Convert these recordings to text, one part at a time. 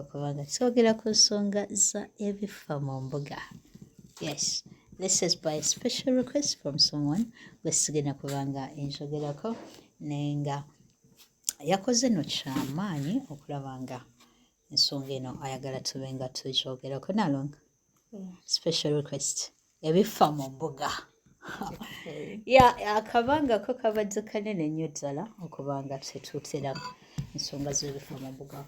okuba nga twogera ku nsonga za ebifa mu mbuga yes this is by special request from someone gwesigenda kuba nga enjogerako naye nga yakoze no kyamaanyi okulaba nga ensonga eno ayagala tube nga tukyogerako nalonga special request ebifa mu mbuga ya akabanga ko kabadde kanene nnyo ddala okubanga tetutera ensonga z'ebifa mu mbuga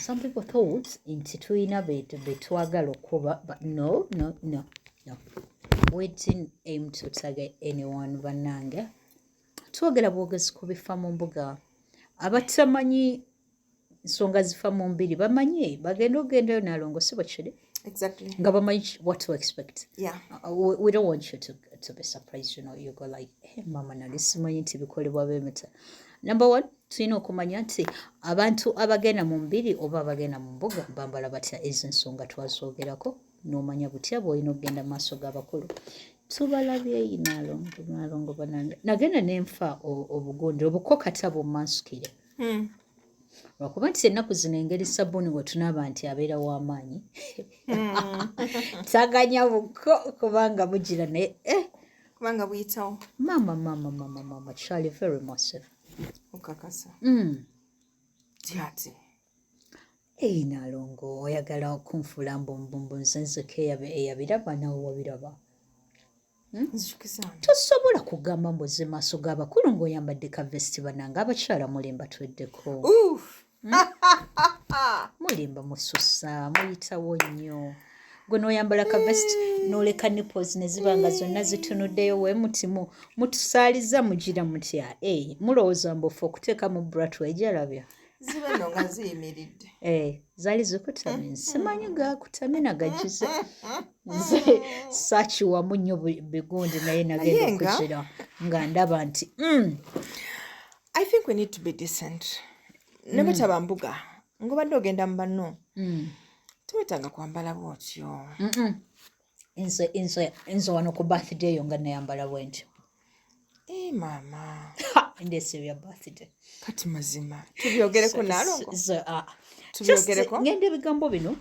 some people thought nti tulina betwagala okuba but no no no no we didn't aim to target anyone bannange twogera bwogezi ku bifa mu mbuga abatamanyi ensonga zifa mu mbiri bamanyi bagenda okugendayo nalongo si bwekiri exactly nga bamanyi what to expect yeah. uh, we, we don't want you to, to be surprised you know you go like hey, eh, mama nali simanyi nti bikolebwa bemita number one tulina okumanya nti abantu abagenda mu mbiri oba abagenda mu mbuga bambala batya ezo ensonga twazoogerako nomanya butya bwolina okugenda mu maaso g'abakulu tubalabyeyi nalongo nalongo banange nagenda nenfa obugundi obuko kata bumansukire hmm. lwakuba nti ennaku zino engeri sabbuuni wetunaaba nti abeera w'amaanyi hmm. taganya buko kubanga bugira naye eh. kubanga buyitawo maama maama maama maama charlie very massive okakasa hmm. tyati eyi nalongo oyagala okunfuula mbumbumbu nze nzeka eyabiraba nawe wabiraba Hmm? tosobola kugamba mbozi maaso g'abakulu ng'oyambadde ka vesti bananga abakyala mulimba tweddeko hmm? mulimba mususa muyitawo nnyo gwe noyambala ka vesti noleka nipos neziba nga zonna zitunuddeyo we mutimu mutusaaliza mugira mutya e eh, mulowooza mbufu okuteekamu bratwa ejalabya ziba no nga ziyimiridde eh, zali zikutamye mm-hmm. simanyi gakutamye nagagize nze sakiwamu nnyo bigundi naye nagenda okukira nga ndaba nti mm. i think we need to be decent mm. nebwetaba mbuga ngobadde ogenda mu banno mm. tewetaaga kwambala bwotyo nze nze nze wano ku birthday yo nga nayambala bwentyo eh, maama ndesebya birthday kati mazima tubyogereko nalo ah. tubyogereko ngenda ebigambo bino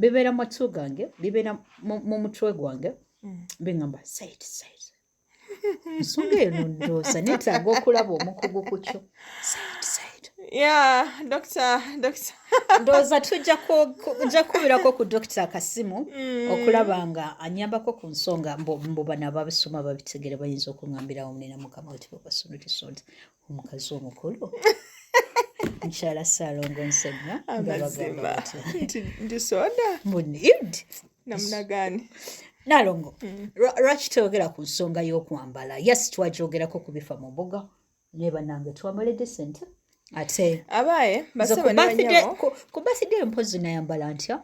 bibeera mu matu gange bibeera mu mutwe gwange mm. bingamba said said ensonga eno ndooza netaaga okulaba omukugu ku kyo ndooza tujja kukubirako ku dokita akasimu mm. okulaba nga anyambako ku nsonga mbu bano ababisoma babitegere bayinza okuŋambirawo munena mukama wetibabasonudisonda omukazi omukulu mukyala saalongo nsenya amazima nti soda munid namunagani nalongo mm. lwaki toyogera ku nsonga y'okwambala yes twagyogerako ku bifa mu mbuga naye banange twambale decent ate abaaye basaba ne banyabo ku birthday mpozi nayambala ntya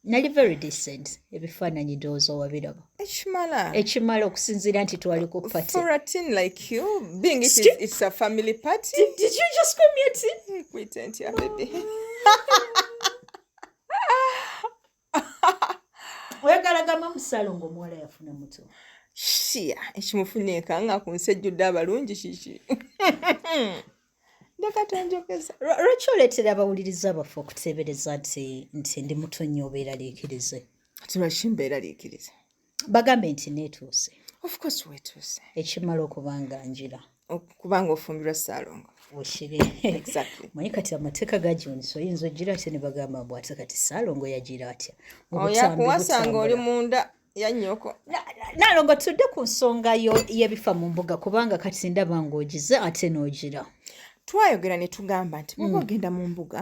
nali very decent ebifaananyi ndowooza wabiraba ekimala ekimala okusinziira nti twali ku party for a teen like you being it is, it's a family party did, did you just call me a teen pretend yeah baby oyagala gamba musalo ngaomuwala yafuna muto shiya ekimufunika nga ku nsi ejjudde abalungi kiki ndeka tonjogeza lwaki oleetera abawuliriza baffe okuteebereza nti nti ndi muto nnyo obeeraliikirize kati lwaki mbeeraliikirize bagambe nti neetuuse ofcourse weetuuse ekimala okuba nga njira kubanga ofumbirwa saalongo okibe manye kati amateeka gajonisa oyinza ogira atya ne bagamba mbu ate kati saalongo yagira atya oyakuwasanga oli munda yanyoko nalongo tudde ku nsonga y'ebifa mu mbuga kubanga kati ndaba ng'ogize ate n'ogira twayogera ne tugamba nti muba mm. ogenda mu mbuga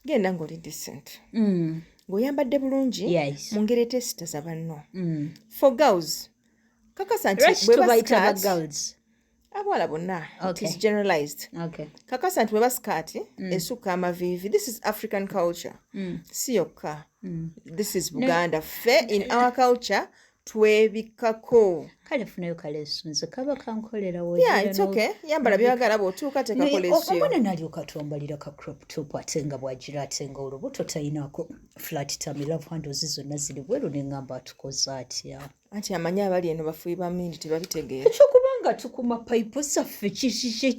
genda ng'oli decent mm. ng'oyambadde bulungi mu ngeri etesitaza banno mm. for girls kakasa nti bwebasikati abawala bonna okay. it is generalized okay. kakasa nti weba sikaati mm. esukka amaviivi this is african culture mm. si yokka mm. this is buganda no. fe in our culture twebikako kale funayo kalesu nze kaba kankolera yambala byagala bwotuuka tekakoleomwana nalyoka twambalira ka crop top ate nga bwagira ate nga olubuto tayinako flat tamilove handles zonna ziri bweru neŋamba atukoze atya anti amanyi abali eno bafuyi bamindi tebabitegeera ekyo kubanga tukuma payipo zaffe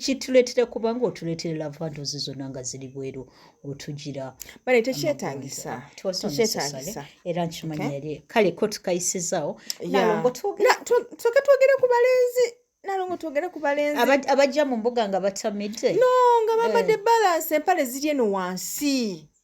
kituleetera kubanga otuleetera lavandozi zonna nga ziri bweru otugira bale tekyetagisa tekyetagisa era nkimanyi yali kale ko tukayisizaawo nalongo tuke twogere ku balenzi nalongo twogere ku balenzi abajja mu mbuga nga batamidde no nga bambadde eh. balansi empale ziri eno wansi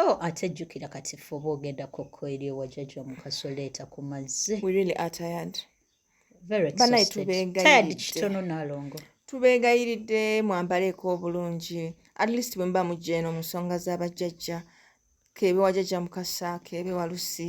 Oh, ate jjukira kati ffe oba ogenda kokko eri ewa jajja omukaso leeta ku mazzi banaye tubeegayiriddekitono nalongo tubeegayiridde mwambaleeko obulungi at least bwe muba mujja eno mu nsonga z'abajjajja keebe wajajja mukasa keebe walusi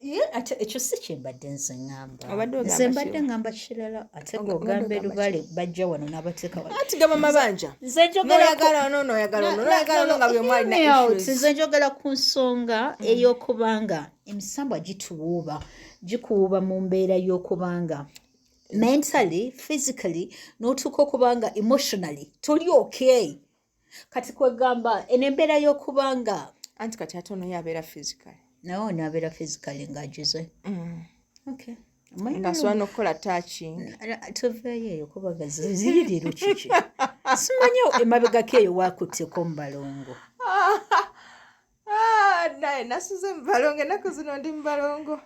ye ate ekyo si kyembadde nze ŋamba nze mbadde ŋamba kirala ate ngaogambe lubale bajja wano nabateeka nze njogera ku nsonga mm. ey'okubanga emisambwa gituwuuba gikuwuuba mu mbeera y'okubanga mentally physically n'otuuka okubanga emotionally toli okay kati kwegamba eno embeera y'okuba nga anti kati ate ono yabeera physical nawe ono abeera physical nga ajuze mm. okay ngasobola nokukola touching tuveeyo eyo kubaga ziririru kiki simanyi emabegako eyo wakutteko mubalongo ah, naye nasuze mubalongo enaku zino ndi mubalongo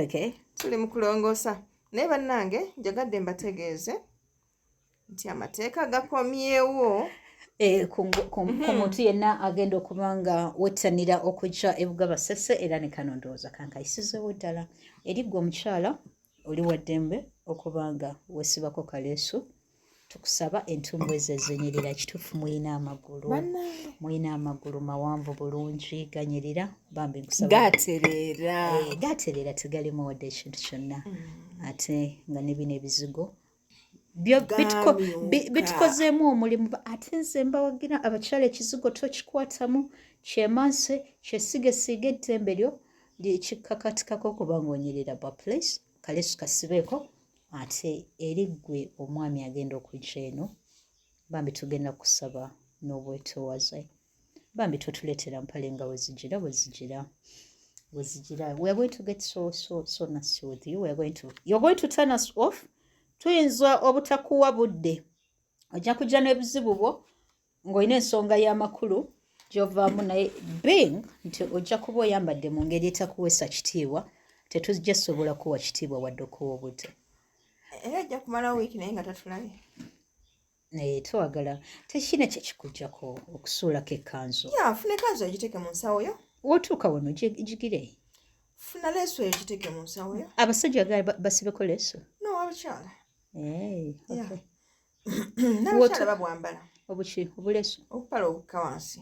okay tuli mukulongoosa naye bannange njagadde mbategeeze nti amateeka gakomyewo Eh, ku mhm. muntu yenna agenda okuba nga wettanira okujja ebuga basese era ne kano ndowooza kankayisizewo ddala eri gwe omukyala oli waddembe okuba nga wesibako kaleesu tukusaba entumbu ezo ezenyerera kituufu muyina amagulu muyina amagulu mawanvu bulungi ganyerera bambi nkusaagaterera eh, tegalimu wadde ekintu kyonna mm. ate nga nebino ebizigo bitukozeemu omulimu ate nze mbawagira abakyala ekizigo tokikwatamu kyemanse kyesigesiiga eddembe lyo lyekikakatikako okuba ngaonyerera bwa place kalesu kasibeeko ate eri ggwe omwami agenda okujja eno bambi tugenda kusaba n'obwetowaze bambi totuletera mpale nga wezijira wezijira wezijira weare going to get so so so nasty with you weare going to you're going to turn us off tuyinza obutakuwa budde ojja kujja n'ebizibu bwo ng'olina ensonga y'amakulu gyovaamu naye being nti ojja kuba oyambadde mu ngeri etakuweesa kitiibwa tetujja sobola kuwa kitiibwa wadde okuwa obudde era ajja kumalawo wiiki naye nga tatulabye naye eh, twagala tekina kyekikujjako okusuulako ekkanzu funa ekanzu egiteeke mu nsawo yo wotuuka wano gigire funa leeso eyo giteeke mu nsawo yo abasajja gal basibeko leeso nowabukyala eh, nabukyala babwambala obuki obuleeso obupala obukka wansi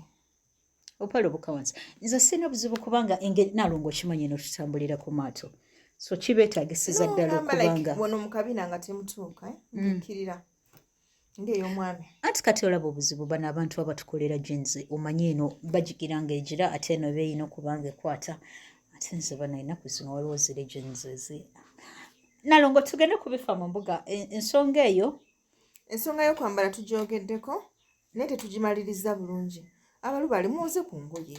obupala obukka wansi nze sirina obuzibu kubanga engeri nalongo okimanyi notutambulira ku maato so kibeetagisiza ddala okubanga wano mukabina nga temutuuka eh? mm. nkirira mm. ngeyomwami anti kati olaba obuzibu bano abantu abatukolera jenzi omanyi eno bajigira nga egira ate eno beeyina okubanga ekwata ate nze bano enaku zino waliwo ziri jenzi ezi nalongo tugende kubifa mu mbuga e, ensonga eyo ensonga yokwambala tujogeddeko naye tetugimaliriza bulungi abalubaali muwoze ku ngoye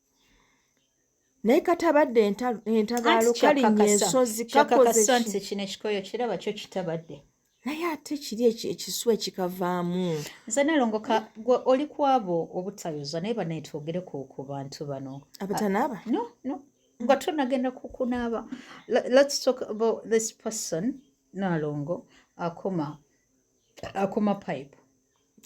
naye katabadde entabaalo kalinnya ensozi kakozeekino ekikoyo kiraba kyo kitabadde naye ate kiri ekisu ekikavaamu nze nalongoka gwe oli kwabo obutayoza naye banaetwogereko ku bantu bano abatanaaba ah, no no nga tonagenda kukunaaba let's talk about this person nalongo akoma akoma pipe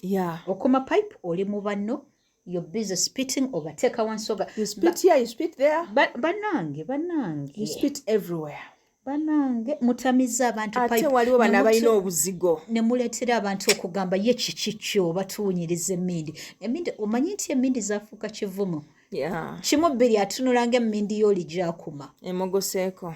yeah. okuma pipe oli mu banno you're busy spitting obateeka wansoga you spit here you spit there banange banange you spit everywhere banange mutamiza abantu ate waliwo bano abalina obuzigo ne muleetera abantu okugamba ye kiki kyo batuwunyiriza emmindi emindi omanyi nti emmindi zafuuka kivumo kimu bbiri atunulanga emmindi yooli gyakuma emogoseeko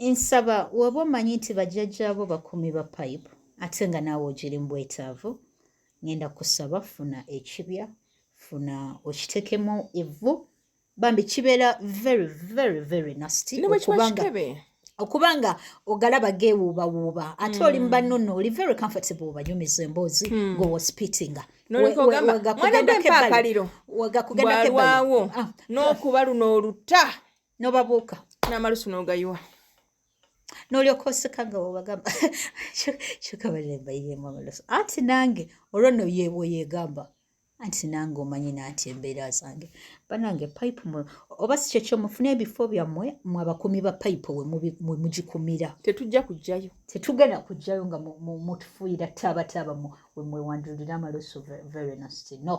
nsaba woba omanyi nti bajjajjaabo bakumi ba pipe ate nga naawe ogiri mu bwetaavu ngenda kusaba funa ekibya funa okitekemu evvu bambi kibeera very very very nasty okubanga okuba nga ogalaba geewuubawuuba ate oli hmm. mubanno nno oli very comfortable obanyumiza emboozi hmm. nga owaspitinga wagakugendako ebbali ah. n'okuba luno oluta nobabuuka n'amalusu n'ogayiwa n'olyoka oseka nga webagamba kyoka balembayiremu amalusu anti nange olwo no yebwe yegamba anti nange omanyi nanti embeera zange banange pipe mwe oba si kyekyo mufune ebifo byammwe mwe abakumi ba pipe we mugikumira tetujja kujjayo tetugenda kujjayo nga mutufuuyira taabataaba mwe mwewandulira amalusu very nasty no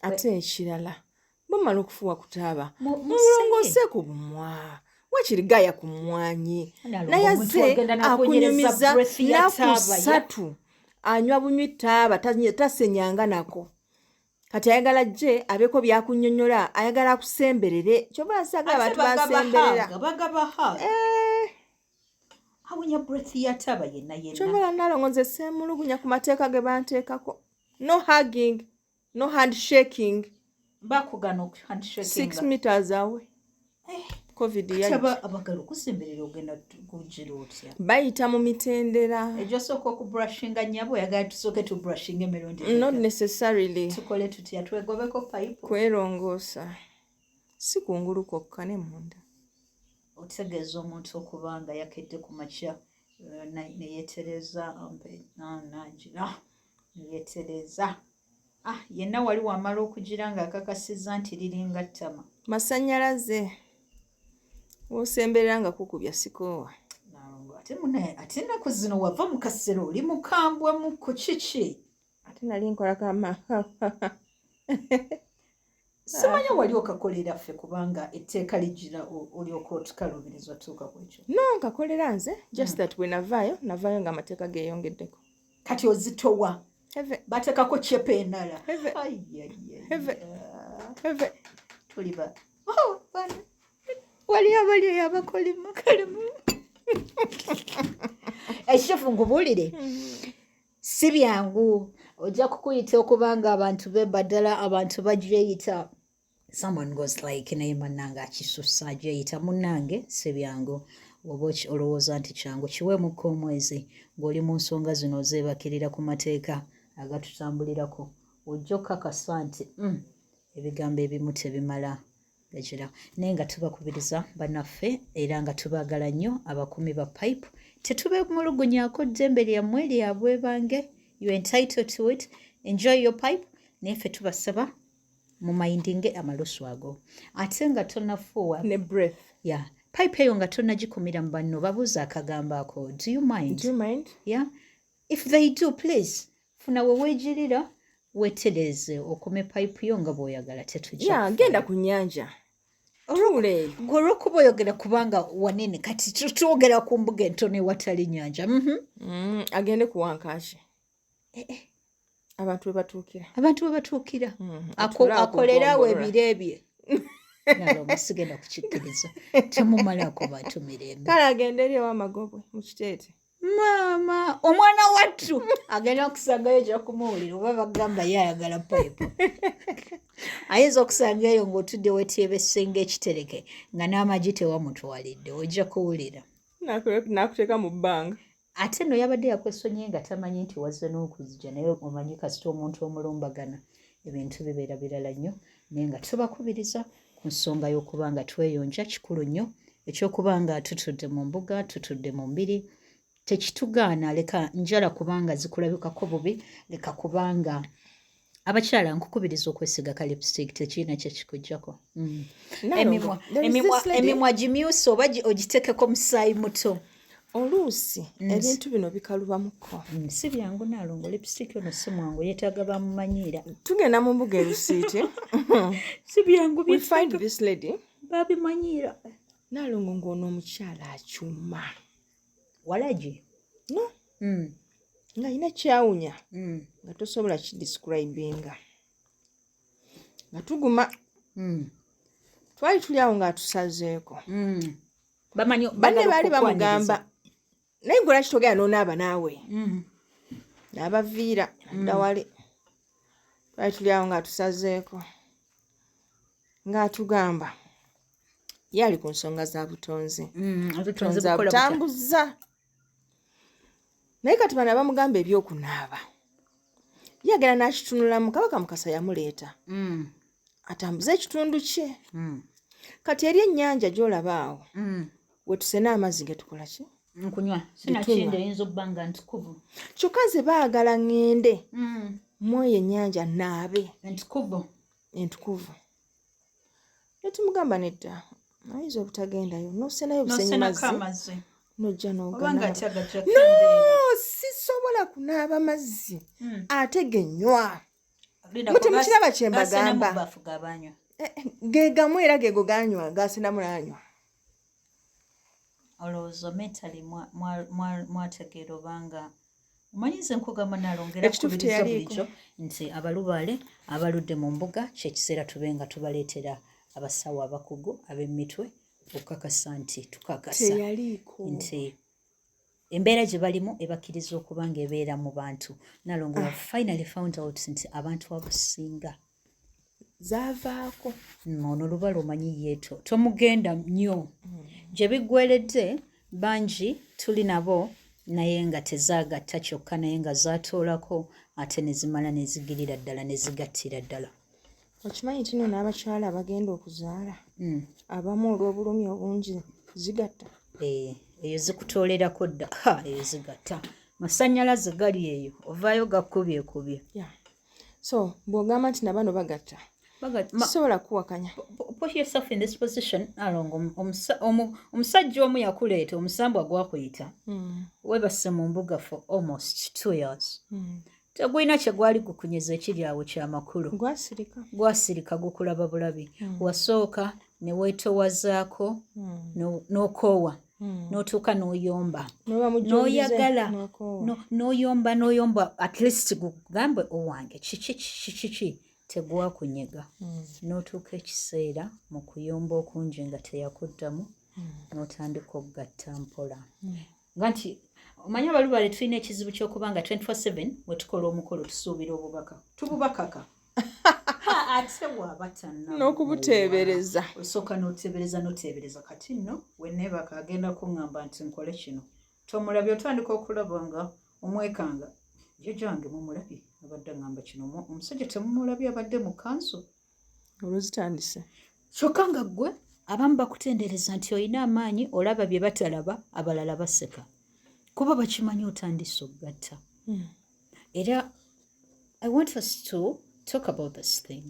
ate ekirala bamala okufuwa kutaaba mulongose ku bumwa wakiri gaya ku mwanyi naye aze akunyumiza nakusatu anywa bunywi taaba tasenyanga nako kati ayagala je abeeko byakunyonyola ayagala akusemberere kyoba asaga abantu basemberera awunya breath ya taba yenna yenna kyobola nalongo nze seemulugunya ku mateeka ge banteekako no hugging no handshaking bakugana handshake six meters away eh. covid abagala okusemberera ogenda kugira otya bayita mu mitendera ejo sooka okubrushinga nyabo oyagala tusooke tubrushinga emirundi not necessarily tukole tutya twegobeko payipo kwerongoosa si kungulu kwokka ne munda otegeeza omuntu okuba nga yakedde ku makya eh, neyetereza ampe ah, nangira neyetereza ah yenna wali wamala okugira nga akakasiza nti liringa ttama masanyalaze wosemberera nga kukubya sikoowa ate munaye ate ennaku zino wava mu kasero oli mukambwa mu ku kiki ate nali nkola kama simanyi wali okakolera ffe kubanga etteeka lijjira olyoka otukaluubiriza otuuka ku ekyo no nkakolera nze just hmm. that bwe navaayo navaayo nga amateeka geeyongeddeko kati ozitowa bateekako cepa enala tuliba oh, waliyo abaliyo yabakolima kalimu ekitufu ngubuulire hmm. si byangu ojja kukuyita okuba nga abantu be baddala abantu bajeyita someone goes like naye manange akisusa ajeyita munange si byangu oba olowooza nti kyangu kiweemukka omwezi ng'oli mu nsonga zino ozeebakirira ku mateeka agatutambulirako ojja okukakasa nti mm, ebigambo ebimu tebimala gagira naye nga tubakubiriza banaffe era nga tubaagala nnyo abakuumi ba pipe tetubemulugunyako ddembe lyammwe lyabwe bange you entitled to it enjoy your pipe naye ffe tubasaba mu mindinge amalusu ago ate nga tonafuuwa ne breath ya yeah. pipe eyo nga tonagikumira mu banno babuuza akagambo ako do you mind, do you mind? Yeah? if they do please funa wewejirira wetereze okome pipe yo nga bwoyagala tetugenda ku nyanja gwe olwokuba oyogera kubanga wanene kati twogera ku mbuga entono ewatali nyanja mhm. mm, agende kuwankaki eh, eh. abantu webatuukira abantu webatuukira mm, akolerawo ebiro ebye nabamusigenda kukikkiriza temumalaako bantu mirembe kale agende eri ewamagobwe mukiteete maama omwana wattu agenda okusanga eyo gyakumuwulira oba bagamba ye ayagala payipu ayinza okusanga eyo ng'otudde wetyebesenga ekitereke nga n'amagi tewamutwalidde ojja kuwulira nakuteeka mu bbanga ate no yabadde yakwesonye nga tamanyi nti wazze n'okuzija naye omanyi kasita omuntu omulumbagana ebintu bibeera birala nnyo naye nga tubakubiriza ku nsonga y'okuba nga tweyonja kikulu nnyo ekyokuba nga tutudde mu mbuga tutudde mu mbiri tekitugaana leka njala kubanga zikulabikako bubi leka kubanga abakyala nkukubiriza okwesiga ka lipstick tekirina kyekikujjako mm. emimwa gimyusa oba ogitekeko musaayi muto oluusi mm. ebintu bino bikalubamuko mm, si byangu nalongo lipsitiki ono si mwangu yetaaga bamumanyiira tugenda mu mbuga erusiiti si byangu babimanyiira nalongo ngaono omukyala akyuma walagi no mm. nga yina kyawunya nga tosobola kidescribinga nga tuguma twali tuli awo ng'atusazeeko bamanyi banne baali bamugamba naye gwe lwaki togenda nonaaba naawe mm. nabaviira mm. dawali twali tuli awo ngaatusazeeko ngaatugamba ye ali ku nsonga za butonzi mm, butonzi abutambuza naye kati bana bamugamba ebyokunaaba ye agenda nakitunulamu kabaka mukasa yamuleeta mm. atambuze ekitundu kye mm. kati eri ennyanja gyolaba awo mm. wetusena amazzi getukola ki nkunywa sinakindi eyinza okuba nga ntukuvu kyokka nze baagala ŋŋende mm. mwoyo ennyanja naabe entukuvu entukuvu ne tumugamba nedda ayinza obutagendayo nosenayo busenyimazzi nojja nogana no sisobola kunaaba mazzi hmm. ate genywa mutemukiraba kyembagamba eh, eh, gegamu era gego ganywa gasinamulanywa olowooza mentally mwategeera obanga omanyi nze nkugamba nalongera kubiriza bulijo nti abalubaale abaludde mu mbuga kyekiseera tube nga tubaleetera abasawo abakugu ab'emitwe okukakasa nti tukakasa nti embeera gye balimu ebakkiriza okuba nga ebeera mu bantu nalongo ah. finally found out nti abantu abasinga zavaako mm, ono lubala omanyi yeeto tomugenda nnyo mm. gye biggweredde bangi tuli nabo naye nga tezaagatta kyokka naye nga zaatoolako ate ne zimala ne zigirira ddala ne zigattira ddala okimanyi nti no n'abakyala abagenda okuzaala mm. abamu olw'obulumi obungi zigatta eh, eyo zikutoolerako dda eyo zigatta masannyalaze gali eyo ovaayo gakkubyekubye so bw'ogamba nti nabano bagatta sobola kuwakanya omusajja omu yakuleeta omusambwa gwakuyita hmm. webase mu mbuga for almost two years hmm. tegulina kyegwali gukunyeza ekiri awo kyamakulu gwasirika gukulaba bulabi hmm. wasooka newetowazaako nokoowa no Hmm. notuuka noyomba noyagala noyomba noyomba at least gugambe owange kiki kiki tegwakunyega hmm. notuuka ekiseera mu kuyomba okungi nga teyakuddamu hmm. notandika okugatta mpola nga nti omanyi abalubale tulina ekizibu kyokuba nga 24/7 wetukola omukolo tusuubira obubaka tububakaka ate wabatana n'okubuteebereza osooka n'oteebereza n'oteebereza kati nno weneebaka agenda kuŋŋamba nti nkole kino tomulabye otandika okulaba nga omwekanga jjajange mumulabye abadde aŋŋamba kino omusajja temumulabye abadde mu kanso oluzitandise kyokka nga ggwe abamu bakutendereza nti olina amaanyi olaba bye batalaba abalala baseka kuba bakimanyi otandise okugatta hmm. era i want us to talk about this thing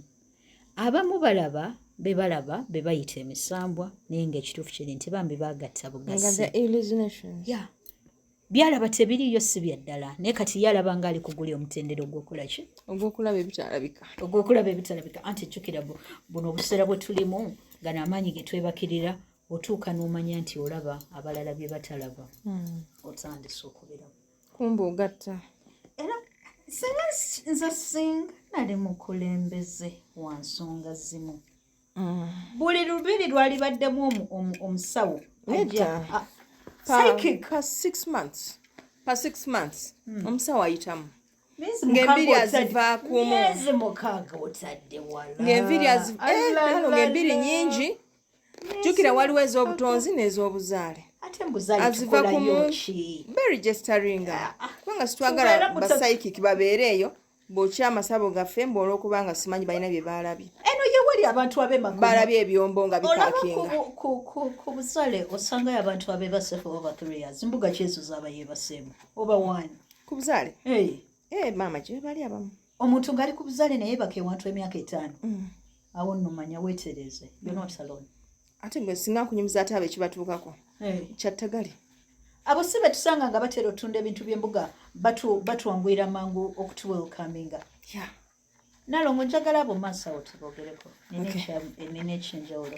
abamu balaba be balaba be bayita emisambwa naye nga ekituufu kiri nti bambi bagatta bugasi byalaba tebiriyo si bya ddala naye kati yalaba nga ali kuguli omutendera ogwokola ki ogwokulaba ebitalabika ogwokulaba ebitalabika anti jjukira buno obuseera bwe tulimu nga n'amaanyi ge twebakirira otuuka n'omanya nti olaba abalala bye batalaba hmm. otandise okubiramu kumbe ogatta era singa nze singa nali mukulembeze wa nsonga zimu mm. buli lubiri lwalibaddemu omusawo omusawo ayitamu ng'embiri azivaako omu ng'embiri eh, nyingi jukira waliwo ez'obutonzi n'ez'obuzaale aziva ku beregisteringa ah, ah. kubanga sitwagala basayikiki babeere eyo bwokya amasabo gaffe mbu olwokuba nga simanyi balina bye baalabye eno yewali abantu abebalabye ebyombo nga bipakingaku busale osangayo abantu abebasefu oba bathriyas mbuga kyezo zaba yebaseemu oba wani ku buzaale eh, maama gyebali abamu omuntu ngali ku buzale naye baka ewantu emyaka etaano mm. awo nno manya weetereeze yonotalon mm. ate gwe singa nkunyumiza ate abo ekibatuukako eh. kyattagali abo si betusanga nga batera otunda ebintu by'embuga batwanguyira mangu okutuwelkaminga nalongo njagala abo maaso awo tubogereko nina ekyenjawulo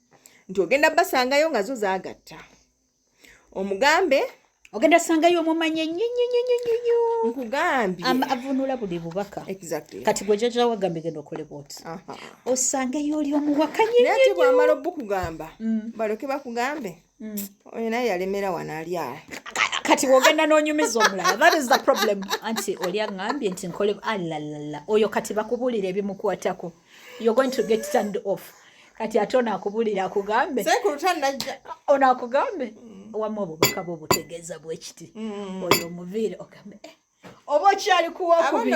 nti ogenda basangayo nga zo zagatta omugambe ogenda sangayo omumanye nyonyonyonyonyo nkugambye avunula buli bubaka kati gwe jaja wagambye genda okole bwoti osangeyo oli omuwakanye naye ati bwamala obukugamba mm. baloke bakugambe Mm. oyo naye yalemera wano ali awo kati wogenda nonyumiza omulala that is the problem anti oli aŋambye nti nkole alalala ah, oyo kati bakubuulira ebimukwatako you're going to get turned off kati ate onakubuulira akugambe onakugambe mm. wamu obubaka bwe butegeeza bwekiti mm. oyo omuviire ogambe eh, oba okyali kuwakubiri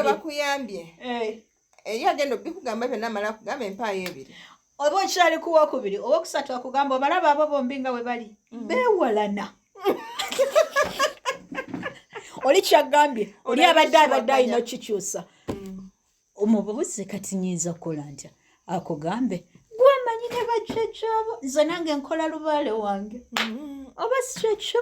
eyo agenda obikugamba byonna amala akugamba empaayo ebiri oba okyali kuwokubiri oba okusatu akugamba obalaba abo bombi nga we bali mm. bewalana oli kyagambye oli abadde abadde alina okikyusa mm. omububuzi kati nyinza okukola ntya akugambe gwamanyi ne bajjajjaabo nze nange nkola lubaale wange mm. oba sikyekyo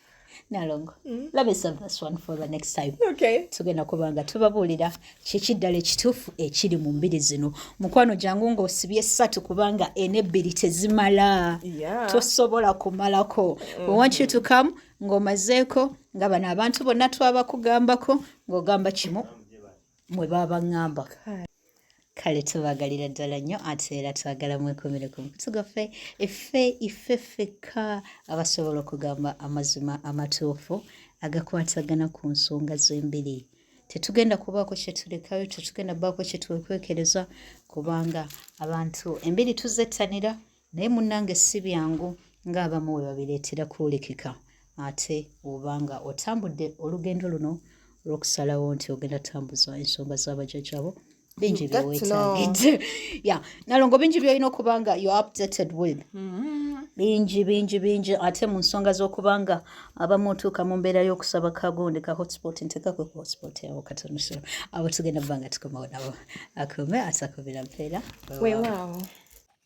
nalongo mm. tugenda kuba nga tubabuulira kiki ddala ekituufu ekiri mu mbiri zino mukwano jangu ng'osibye satu kubanga ena ebbiri tezimala tosobola kumalako wewankyutukamu mm-hmm. ng'omazeeko nga bano abantu bonna twabakugambako ng'ogamba kimu mwe baba ŋŋamba kale tubagalira ddala nnyo ate era twagala mwekumire ku mukutu gwaffe effe iffe ffekka abasobola okugamba amazima amatuufu agakwatagana ku nsonga z'embiri tetugenda kubaako kyetulekayo tetugenda baako kyetwekwekereza kubanga abantu embiri tuzettanira naye munnange si byangu ng'abamu we babireetera kwolekeka ate oba nga otambudde olugendo luno olw'okusalawo nti ogenda tambuza ensonga z'abajajabo bingi byewetagidde ya nalongo bingi byolina okuba nga you updated with mm-hmm. bingi bingi bingi ate mu nsonga z'okuba nga abamu otuuka mu mbeera y'okusaba kagonde ka hotspot ntekakwe ku hotspot yawo katonoso abo tugenda kuba nga tukomawo nabo akume atakubira mpeera wewaawo